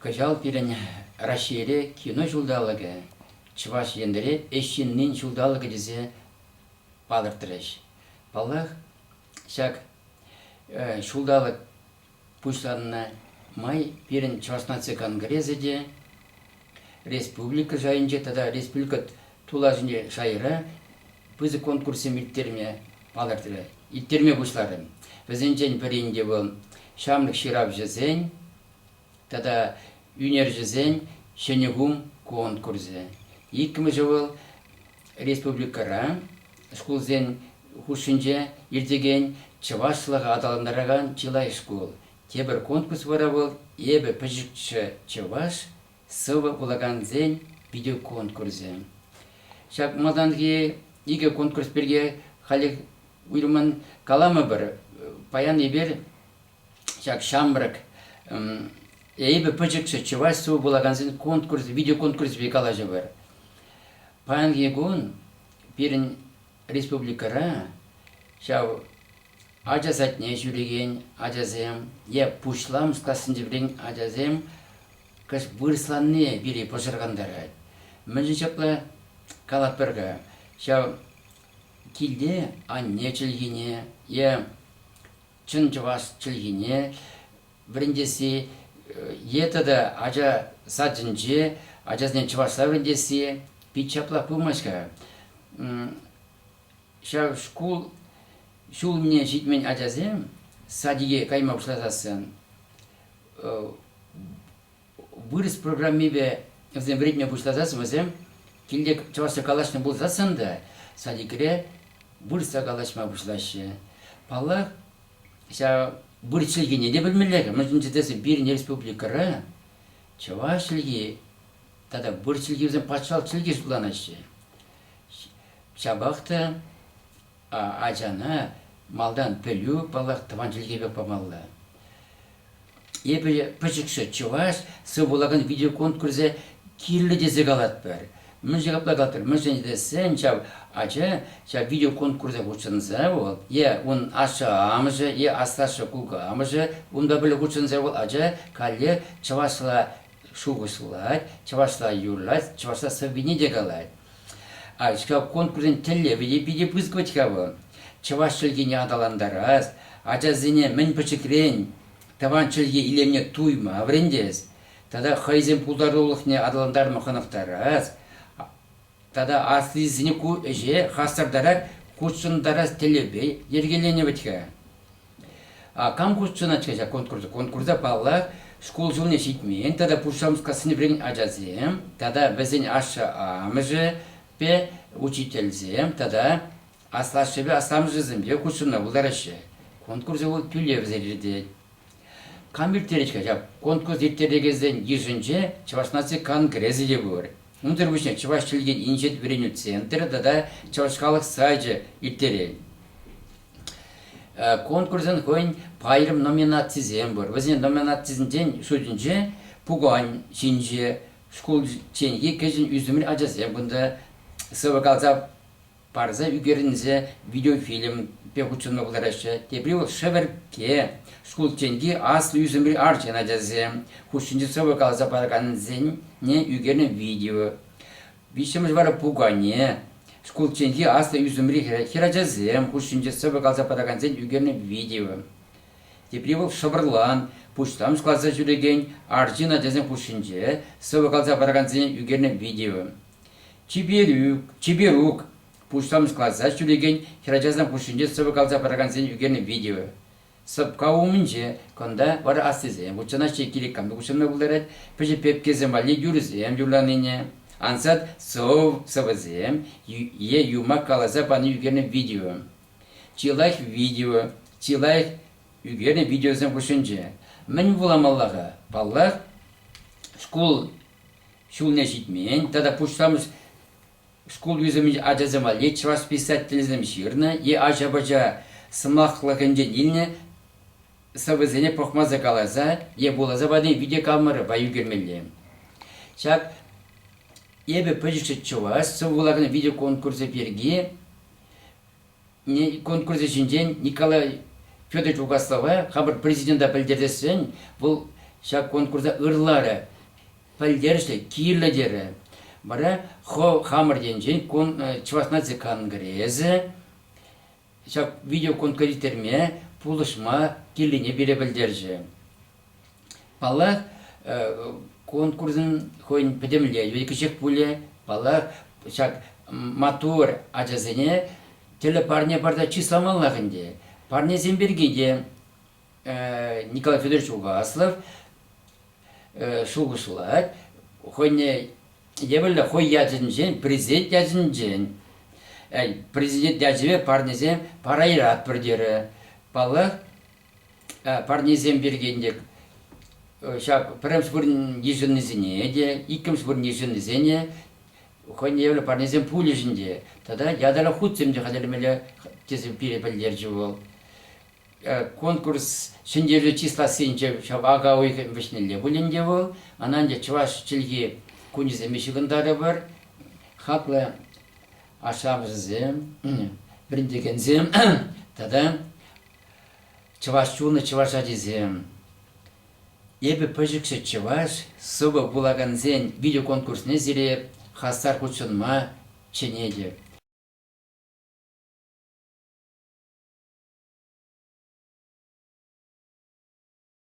Кӑҫал пирӗн Раҫҫейре Кино ҫулталӑкӗ, Чӑваш Енре Ӗҫ ҫыннин ҫулталӑкӗ тесе палӑртрӗҫ. Паллах, ҫак ҫулталӑк пуҫланнӑ май пирӗн Чӑваш наци конгресӗ те республика шайӗнче тата республика тулашӗнчи шайра пысӑк конкурссем ирттерме палӑртрӗ, ирттерме пуҫларӗ. Вӗсенчен пӗрин те вӑл ҫамрӑк ҫыравҫӑсен тата ӳнерҫӗсен ҫӗнӗ кум конкурсӗ. Иккӗмӗшӗ вӑл республикӑра шкулсен хушшинче иртекен чӑвашлӑха аталантаракан чылай шкул. Тепӗр конкурс вара вӑл Эпӗ пӗчӗкҫӗ чӑваш сӑвӑ вулакансен видеоконкурсӗ. Ҫак малтанхи икӗ конкурс пирки халех уйрӑммӑн каламӑпӑр. Паян эпир ҫак ҫамрӑк Эпӗ пӗчӗкҫӗ чӑваш сӑвӑ вулакансен конкурс, видеоконкурсӗпе калаҫӑпӑр. Паянхи кун пирӗн Республикӑра ҫав ача садне ҫӳрекен ачасем е пуҫламӑш классенче вӗренекен ачасем вырӑсланни пире пӑшӑрхантарать. Мӗншӗн ҫапла калатпӑр-ха, ҫав килте анне чӗлхине е чӑн чӑваш чӗлхине вӗрентесси е тата ача садӗнче ачасене чӑвашла вӗрентесси пит ҫапла пымасть-ха. Ҫав шкул ҫул умне ҫитмен ачасем садике кайма пуҫласассӑн Вырӑс программипе вӗсем вӗретме пуҫласан вӗсем тиллек чӑвашла калаҫнӑ пулсассӑн та садикре вырӑсла калаҫма пуҫлаҫҫӗ. Паллах, ҫав вырӑс чӗлхине те пӗлмелле-ха, мӗншӗн тесен пирӗн республикӑра чӑваш чӗлхи тата вырӑс чӗлхи вӗсем патшалӑх чӗлхи шутланаҫҫӗ. Ҫапах та ачана малтан пӗлӳ, паллах, тӑван чӗлхепех памалла. Эпӗ пӗчӗкҫӗ чӑваш сывпуллакан видеоконкурсӗ кирлӗ тесе калатпӑр. Мӗншӗн апла калатпӑр? Мӗншӗн тесен ҫав ача ҫав видеоконкурса хутшӑнса вӑл е ун ашшӗ-амӑшӗ, е аслашшӗ-кукамӑшӗ унпа пӗрле хутшӑнса вӑл ача каллех чӑвашла шухӑшлать, чӑвашла юрлать, чӑвашла сӑввине те калать. А ҫав конкурсӑн тӗллевӗ те питӗ пысӑкать-ха вӑл. Чӑваш чӗлхине аталантарас, ачасене мӗн пӗчӗкрен тӑван чӗлхе илемне туйма вӗрентес тата хӑйсен пултарулӑхне аталантарма хӑнӑхтарас Тата аслисене ку ӗҫе хастартарах хутшӑнтарас тӗллевпе йӗркеленӗ вӗт-ха. Кам хутшӑнать-ха ҫак конкурса? Конкурса, паллах, шкул ҫулне ҫитмен тата Пуҫламӑшкассине вӗреннӗ ачасем тата вӗсен ашшӗ-амӑшӗпе учительсем тата аслашшӗпе асламӑшӗсемпе хутшӑнма пултараҫҫӗ. Конкурсӗ вӑл тӳлевсӗр иртет. Кам ирттерет-ха ҫав? Конкурс ирттерекенсен йышӗнче Чӑваш наци конгресӗ те пур. Унсӑр пуҫне чӑваш чӗлхин инҫет вӗренӳ центрӗ тата Чӑваш халӑх сайчӗ ирттерен. Конкурсӑн хӑйӗн пайрӑм номинацисем пур. Вӗсен номинацисенчен шутӗнче пукан ҫинче шкулчченхи кӗҫӗн ӳсӗмри ачасем кунта сӑвӑ каласа парса ӳкерӗнсе видеофильмпе хутшӑнма пултараҫҫӗ. Тепри вӑл Шӗвӗркке, Скултенки аслӑ ӳсӗмри арҫын ачасем хушшинче сӑвӑ каласа паракансене ӳкернӗ видео. Виҫҫӗмӗш вара Пукане, Скултенки аслӑ ӳсӗмри хӗрачасем хушшинче сӑвӑ каласа паракансен ӳкернӗ видео. Тепри вӑл Шӑпӑрлан, пуҫлам класа ҫӳрекен арҫын ачасем хушшинче сӑвӑ каласа паракансене ӳкернӗ видео. Чиперук пуҫсамӑртлатса ҫӳрекен хӗрачасем хушшинче сӑвӑ каласа паракансен ӳкернӗ видео. Сӑпка умӗнче кунта вара аслисем хутшӑнаҫҫӗ, килӗ-кантӑк уҫӑлма пултарать, пӗчӗк пепкесем валли юрӑсем юрланине, ансат сӑвӑсем е юмах каласа пани ӳкернӗ видео. Чи лайӑх видео, чи лайӑх ӳкернӗ видеосем хушшинче. Мӗн вуламалла-ха? Паллах, шкул ҫулне ҫитмен тата пуҫламӑш шкул ӳсӗмӗн ачасем валли чӑваш писательсем ҫырнӑ е ача-пӑча сӑмахлӑхӗнчен илнӗ сӑвӑсене пӑхмасӑр каласа е вуласа пани видеокамерӑпа ӳкермелле. Ҫак эпӗ пӗлчӗ чӑваш сӑвӑ вулакан видеоконкурсӗ пирки конкурсӗ ҫинчен Николай Федорович Угаслова хамӑр президента пӗлтерсессӗн вӑл ҫак конкурса ырларӗ. Пӗлтерӗшлӗ, кирлӗ терӗ. Вара хо хамӑр енчен Чӑваш наци конгресӗ ҫак видеоконкурсиртерме пулӑшма кирлине пире пӗлтерчӗ. Паллах, конкурсӑн хӑйӗн пӗтӗмле йӑли-кӗҫех пулӗ. Паллах, ҫак маттур ачасене тӗрлӗ парне парса чысламаллах ӗнтӗ. Парнесем пирки те Николай Федорович Уваслов шухӑшлать. Хӑйне евӗрлӗ хӑй ячӗнчен, президент ячӗнчен, президент ячӗпе парнесем парайратпӑр терӗ. Паллах, парнесем пирки ӗнтӗ ҫак пӗрремӗш вырӑн йышӑннисене те, иккӗмӗш вырӑн йышӑннисене хӑйне евӗрлӗ парнесем пулӗҫ ӗнтӗ. Тата ятарлӑ хутсем те хатӗрлемелле, тесе пире пӗлтерчӗ вӑл. Конкурс ҫӗнтерӳ чыслассинче ҫав ака уйӑхӗ вӗҫнелле пуль ӗнтӗ вӑл. Ӑна ӗнтӗ чӑваш чӗлхи кунӗсемпе ҫыхӑнтарӑпӑр. Хаклӑ ашшӗ-амӑшӗсем, вӗрентекенсем тата Чӑваш чунӗ чӑваш ачисем. Эпӗ пӗчӗкҫӗ чӑваш, сӑвӑ вулакансен видеоконкурсне сире хастар хутшӑнма чӗнетӗп.